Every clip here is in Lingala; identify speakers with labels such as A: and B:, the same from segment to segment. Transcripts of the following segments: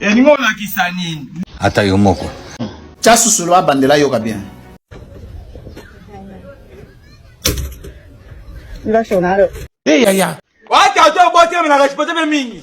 A: elingi olakisa nini ata
B: yo moko tya susulu
C: abandela yoka bien
D: Hey, yaya.
C: Wata to bote
A: mna respecte mingi.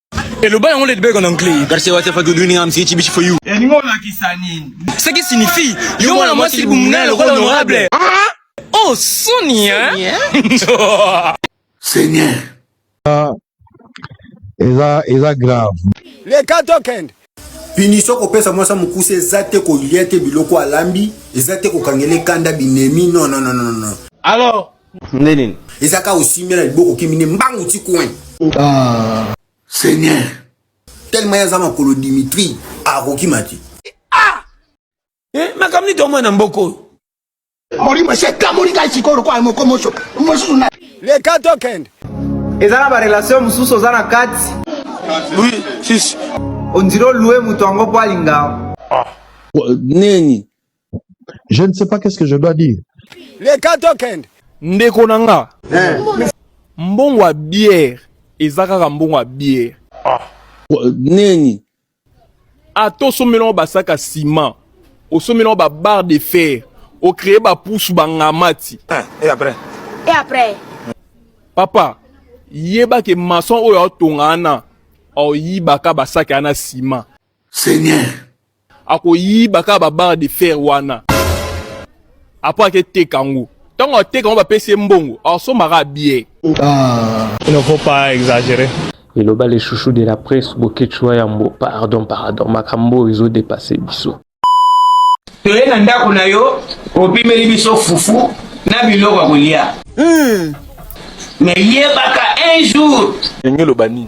E: eloba
A: yango lady beg en anglais garcia what if i could doing
B: am see chibichi for you elingo olakisa
A: nini ce qui signifie
E: yo mwana mwasi libumu naye lokola honorable oh soni hein
C: seigneur
F: eza eza grave leka
C: tokende punition kopesa mwasa mokuse eza te kolia te biloko alambi eza te kokangela ekanda binemi non non non non alors
A: nde nini
B: eza kaka osimbi
C: na liboko okimi nde mbangu ti coin ah. seigneur tellement ye aza makolo dimitri akokima te ah! eh,
E: makambo nini tomona na mboka oyo molimo
C: se ekamoli ngai sikoyo lokola moko moso mosusu na leka tokende eza na
D: barelation mosusu oza na kati oui
E: sisi ondire olue
D: moto yango mpo alinga ah.
F: nini Je ne sais pas qu'est-ce que je dois dire. Les Katoken.
C: Ndeko na nga.
E: Eh. Mbongo ya bière eza kaka mbongo ya bière. Ah.
F: Neni?
E: Ato somela ba basaka ciment. Osomela ba barre de fer. O créer ba pousse ba ngamati. Eh, et après?
A: Et après?
G: Papa,
E: yeba ke maçon oyo atonga ana. Oyibaka basaka ana ciment. Seigneur. Akoyiba kaka ba barre de fer wana. Après aketeka yango. Ntango ateka yango bapesi ye mbongo, asombaka bie. Ah.
H: Il ne faut pas exagérer. Eloba le chouchou de la presse Boketshu Yambo. Pardon, pardon. Makambo ezo dépasser biso.
A: Toye na ndako na yo, opimeli biso fufu na biloko ya kolia. Hmm. Mais yebaka un jour. Ndenge eloba nini?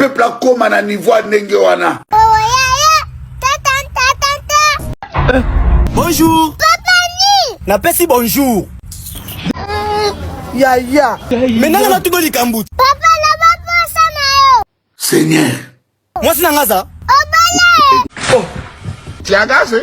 C: peuple akoma na niveau ya ndenge wana
E: bonjour
G: napesi bonjour
C: yaya me nanga natuki
E: likambo
G: seigneur
C: mwasi na
E: nga aza
G: oh.
A: tiagase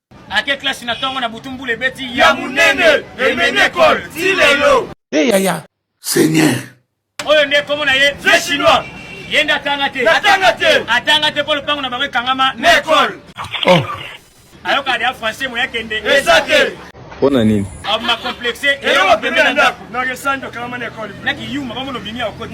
F: ake
I: klasi na ntongo na butu mbula ebeti ya monene
A: emenekol ti lelo e yaya
C: seigneur
B: oyo nde
I: nkombo na ye vieux chinois
A: ye nde atanga
I: te atanga te atanga te mpo lopango na bango ekangama na ekole
A: oh.
I: ayoka deya français moya kende eza te
A: mpo na nini
F: aboma complexe
I: eyoko pembe na
A: ndako na kiyuma bamona obimi
I: ya okoti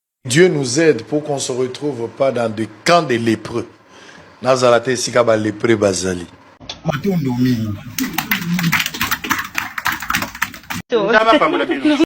J: Dieu nous aide pour qu'on se retrouve pas dans des camps de lepreux. Nazala te esika ba lepreux bazali. Matondo mingi.
A: Nzambe apambola bino.